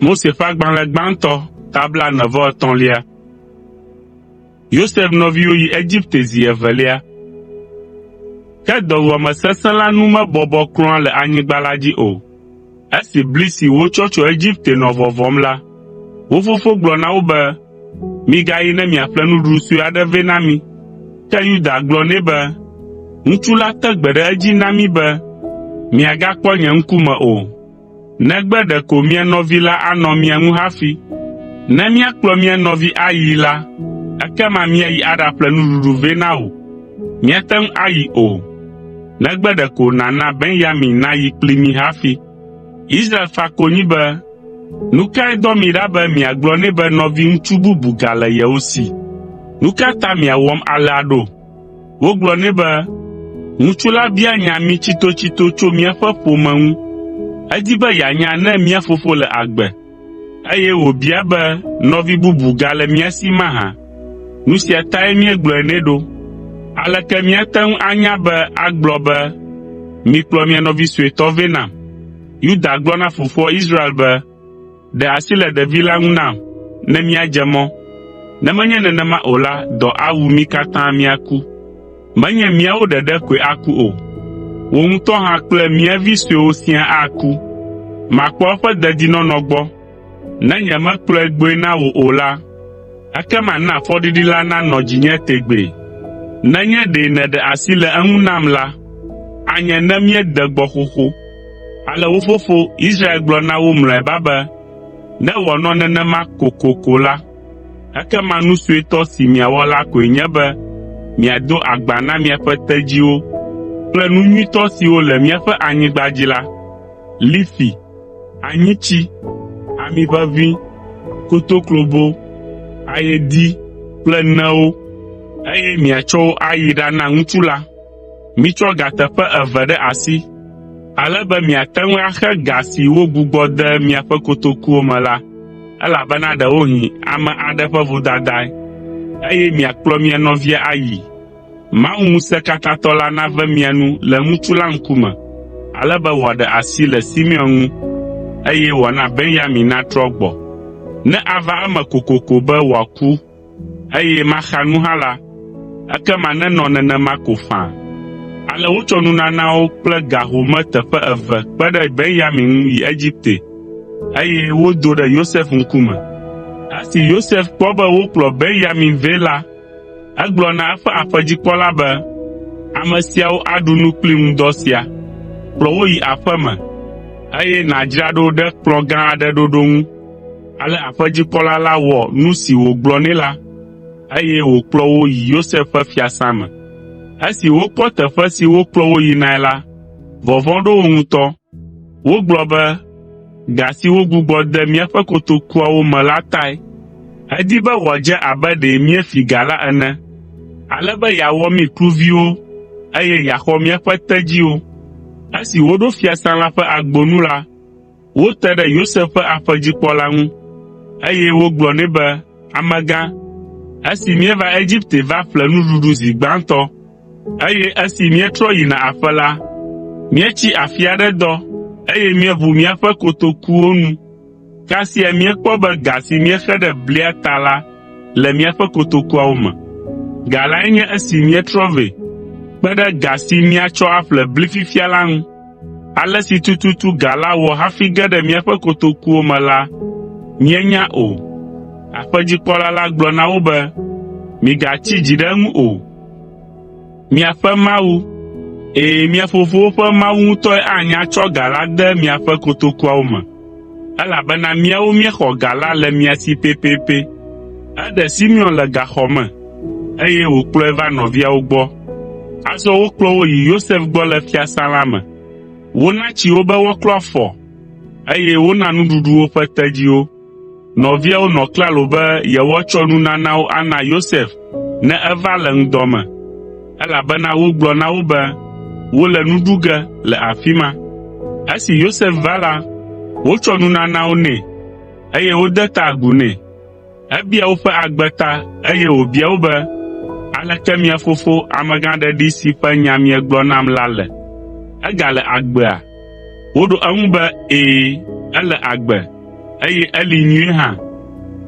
Mose ƒe agbalẽ gbãtɔ ta blaene-vɔ-etɔ̃lia. Yosef nɔviwo yi Egipte zi evelia. Ke dɔwuame sesẽ la nu mebɔbɔ kura le anyigba la dzi o. Esi bli si wotsɔ tso Egipte nɔ vɔvɔm la, Wo fofo gblɔ na wo be, “Migayi ne miaƒle nuɖuɖu sue aɖe vɛ na mí.” Ke Yuda gblɔ nɛ be, “Ŋutsu la te gbe ɖe edzi na mí be, ‘Miagakpɔ nye ŋkume o, negbe ɖeko mia nɔvi la anɔ mia ŋu hafi. Ne míakplɔ mía nɔvi ayii la, ekema míayi aɖaƒle nuɖuɖu vɛ na wò. Míate ŋu ayi o, negbe ɖeko nàna Benyamin nayi kpli mí hafi.’ ” Israel fa konyi be, “Nu kae dɔ mi ɖa be miagblɔ nɛ be nɔviŋutsu bubu gale yewo si? Nu ka ta miawɔm alea ɖo?” Wogblɔ nɛ be, “Ŋutsu la bia nya mí tsitotsito tso míaƒe ƒome ŋu. Edi be yeanya ne mía fofo le agbe, Eye wòbia be nɔvi bubu gale mía si mahã? Nu sia tae míegblɔe nɛ ɖo. Aleke míate ŋu anya be agblɔ be, “Mikplɔ mia nɔvi suetɔ vɛ nam”? Yuda gblɔ na fofoa Israel be, “Ɖe asi le ɖevi la ŋu nam ne míadze mɔ, ne menye nenema o la, dɔ awu mí katã míaku.” Menye míawo ɖeɖe koe aku o, wò ŋutɔ hã kple mía vi suewo siaa aku. Màkpɔ eƒe dedinɔnɔ gbɔ. Ne nyemekplɔe gbɔe na wò o la, ekema na fɔɖiɖi la nanɔ dzinye tegbee. Nenye ɖe nèɖe asi le eŋu nam la, anye ne míede gbɔ xoxo.” Ale wo fofo, Israel gblɔ na wo mlɔeba be, “Ne wòanɔ nenema kokoko la, Ekema nu suetɔ si miawɔ la koe nye be miado agba na miaƒe tedziwo kple nu nyuitɔ siwo le míaƒe anyigba dzi la, lifi, anyitsi, ami ʋeʋĩ, kotoklobo, ayedi kple newo, eye miatsɔ wo ayi ɖana ŋutsu la, Mitsɔ ga teƒe eve ɖe asi, ale be miate ŋu axe ga si wogbugbɔ de miaƒe kotokuwo me la, elabena ɖewohĩ ame aɖe ƒe vodadae, eye miakplɔ mia nɔvia ayii. Mawu ŋusẽkatãtɔ la nave mia nu le ŋutsu la ŋkume, ale be wòaɖe asi le Simeon ŋu, eye wòana Benyamin natrɔ gbɔ, ne ava eme kokoko be wòaku eye maxa nu hã la, ekema nenɔ nenema ko faa. Ale wotsɔ nunanawo kple ga home teƒe eve kpe ɖe Benyamin ŋu yi Egipte, eye wodo ɖe Yosef ŋkume. Esi Yosef kpɔ be wokplɔ Benyamin vɛ la, egblɔ na eƒe aƒedzikpɔla be, “Ame siawo aɖu nu kpli ŋudɔ sia. Kplɔ wo yi aƒeme, eye nàdzra ɖo ɖe kplɔ̃ gã aɖe ɖoɖo ŋu.” Ale aƒedzikpɔla la wɔ nu si wògblɔ nɛ la, eye wòkplɔ wo yi Yosef ƒe fiasã me. Esi wokpɔ teƒe si wokplɔ wo yinae la, vɔvɔ̃ ɖo wo ŋutɔ. Wogblɔ be, “Ga si wogbugbɔ de míaƒe kotokuawo me la tae. Edi be wòadze abe ɖe míefi ga la ene, ale be yeawɔ mí kluviwo, eye yeaxɔ míaƒe tedziwo.” Esi woɖo fiasã la ƒe agbo nu la, Wote ɖe Yosef ƒe aƒedzikpɔla ŋu, eye wogblɔ nɛ be, “Amegã, esi míeva Egipte va ƒle nuɖuɖu zi gbãtɔ, eye esi míetrɔ yina aƒe la, míetsi afi aɖe dɔ, eye míeʋu míaƒe kotokuwo nu. Kasia míekpɔ be ga si míexe ɖe blia ta la le míaƒe kotokuawo me. Ga lae nye esi míetrɔ vɛ kpe ɖe ga si míatsɔ aƒle bli fifia la ŋu.” Ale si tututu ga la wɔ hafi ge ɖe míaƒe kotokuwo me la, míenya o. Aƒedzikpɔla la gblɔ na wo be, “Migatsi dzi ɖe eŋu o. Miaƒe Mawu, ɛ̃, mia fofowo ƒe Mawu ŋutɔe anya tsɔ ga la ade miaƒe kotokuawo me.” elabena míawo míexɔ ga la le mia si pɛpɛpɛ. Eɖe Simeon le gaxɔ me, eye wòkplɔe va nɔviawo gbɔ. Azɔ wokplɔ wo yi Yosef gbɔ le fiasã la me. Wona tsi wo be woaklɔ afɔ, eye wona nuɖuɖu woƒe tedziwo. Nɔviawo nɔ klalo be yewoatsɔ nunanawo ana Yosef ne eva le ŋdɔ me, elabena wogblɔ na wo be wole nu ɖu ge le afi ma. Esi Yosef va la, wotsɔ nunanawo nɛ, eye wode ta agu nɛ. Ebia woƒe agbe ta, eye wòbia wo be, “Aleke mia fofo, amegãɖeɖi si ƒe nya miegblɔ nam la le? Egale agbea?” Woɖo eŋu be, “Ɛ̃, ele agbe, eye eli nyuie hã.”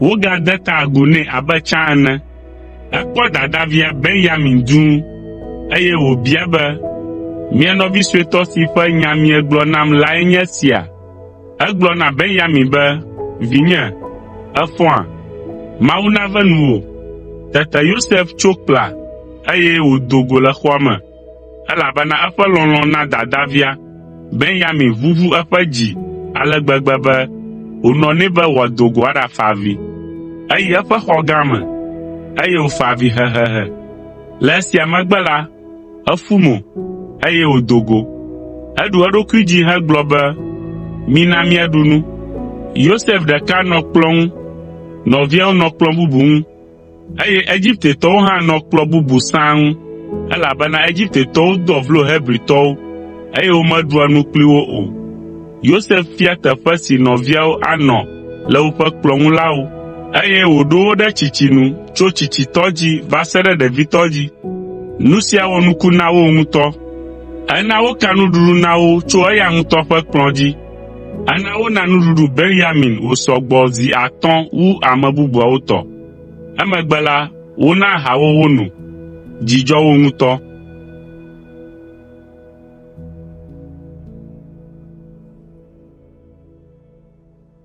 Wogade ta agu nɛ abe tsã ene. Ekpɔ dadavia Benyamin dũu, eye wòbia be, “Mia nɔvi suetɔ si ƒe nya miegblɔ nam lae nye esia?” Egblɔ na Benyamin be, “Vinye, èfɔa? Mawu nave nuwò.” Tete Yosef tso kpla, eye wòdo go le xɔa me. elabena eƒe lɔlɔ̃ na dadavia Benyamin ʋuʋu eƒe dzi ale gbegbe be wònɔ nɛ be wòado go aɖafa avi. Eyi eƒe xɔ gã me, eye wòfa avi hehehe. Le esia megbe la, efu mo, eye wòdo go. Eɖu eɖokui dzi hegblɔ be, “Mina míaɖu nu.” Yosef ɖeka nɔ kplɔ̃ ŋu, nɔviawo nɔ kplɔ̃ bubu ŋu, Eye Egiptetɔwo hã nɔ kplɔ̃ bubu sãa ŋu, elabena Egiptetɔwo doa vlo Hebritɔwo, eye womeɖua nu kpli wo o. Yosef fia teƒe si nɔviawo anɔ le woƒe kplɔ̃ ŋu la wo, eye wòɖo wo ɖe tsitsi nu tso tsitsitɔ dzi va se ɖe ɖevitɔ dzi. Nu sia wɔ nuku na wo ŋutɔ. Ena woka nuɖuɖu na wo tso eya ŋutɔ ƒe kplɔ̃ dzi, Ana wona nuɖuɖu Benyamin wòsɔ gbɔ zi atɔ̃ wu ame bubuawo tɔ. Emegbe la, wona aha wo wono. Dzi dzɔ wo ŋutɔ.